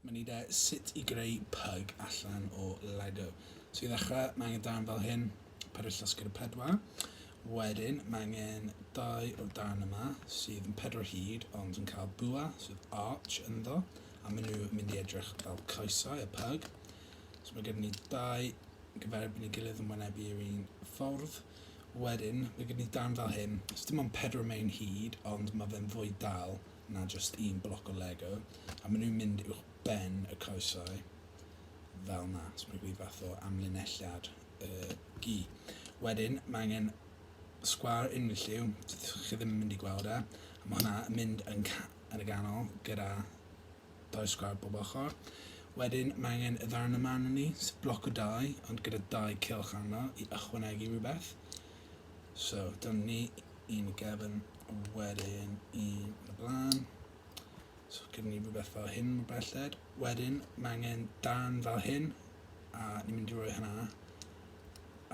Dyma ni de, sut i greu pyg allan o Lego. So i ddechrau, mae angen dan fel hyn, perill llosgr y pedwar. Wedyn, mae angen dau o dan yma, sydd yn pedwar hyd, ond yn cael bwa, sydd arch ynddo, a maen nhw mynd i edrych fel coesau, y pyg. So mae gen ni dau gyferbyn i gilydd yn wynebu yr un ffordd. Wedyn, mae gen i darn fel hyn, so dim ond pedwar mewn hyd, ond mae fe'n fwy dal na jyst un bloc o Lego, a maen nhw'n mynd uwch ben y coesau fel na, so mae'n gwneud fath o amlinelliad y gi. Wedyn, mae angen sgwar unrhyw lliw, chi ddim yn mynd i gweld e, a mae hwnna yn mynd yn, yn y ganol gyda Dau sgwâr bob ochr. Wedyn mae angen y ddarn yma arnon ni, sef bloc o dai, ond gyda dau cylch arno i ychwanegu rhywbeth. So, dyna ni, un i gefn, wedyn un yn y blaen. So, gyda ni rhywbeth fel hyn mor belled. Wedyn, mae angen darn fel hyn, a ni'n mynd i roi hynna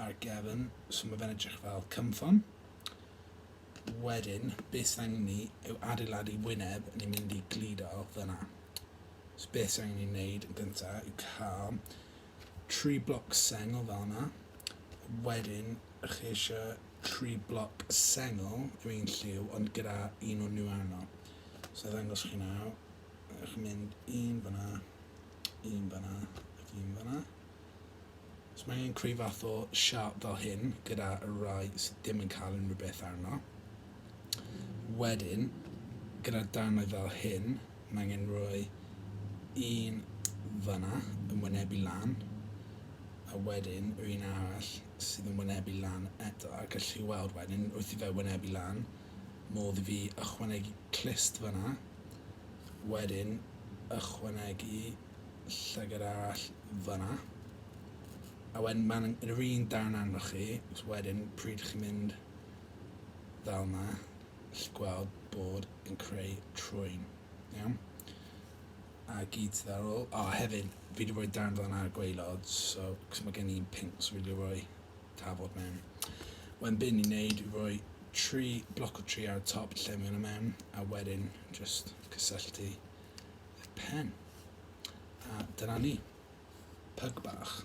ar gefn, so mae fe'n edrych fel cymffon. wedyn be sydd angen ni yw adeiladu wyneb ni'n mynd i gludo fyna. So be sydd angen ni wneud yn gynta yw cael tri bloc sengl fel yna. Wedyn chi eisiau tri bloc sengl yw un lliw ond gyda un o'n nhw arno. So ddangos chi nawr, chi'n mynd un fyna, un fyna ac un fyna. So mae angen creu fath o siart fel hyn gyda rai sydd ddim yn cael unrhyw beth arno. Wedyn, gyda darnau fel hyn, mae angen rhoi un fyna yn wynebu lan, a wedyn yr un arall sydd yn wynebu lan eto, a gallu chi weld wedyn wrth i fe wynebu lan, modd i fi ychwanegu clust fyna, wedyn ychwanegu llygad arall fanna. A wedyn mae'n yr un darn arnoch chi, so wedyn pryd chi'n mynd fel yma, chi'n gweld bod yn creu trwy'n. Iawn? A gyd sydd ar ôl. O, hefyd, fi wedi rhoi darn fel yna ar gweilod, so, cos mae gen i'n pink, so fi wedi rhoi tafod mewn. Wedyn byn ni'n neud i roi tri bloc o tri ar y top lle mewn y mewn, a wedyn just cysylltu y pen. A dyna ni. Pyg bach.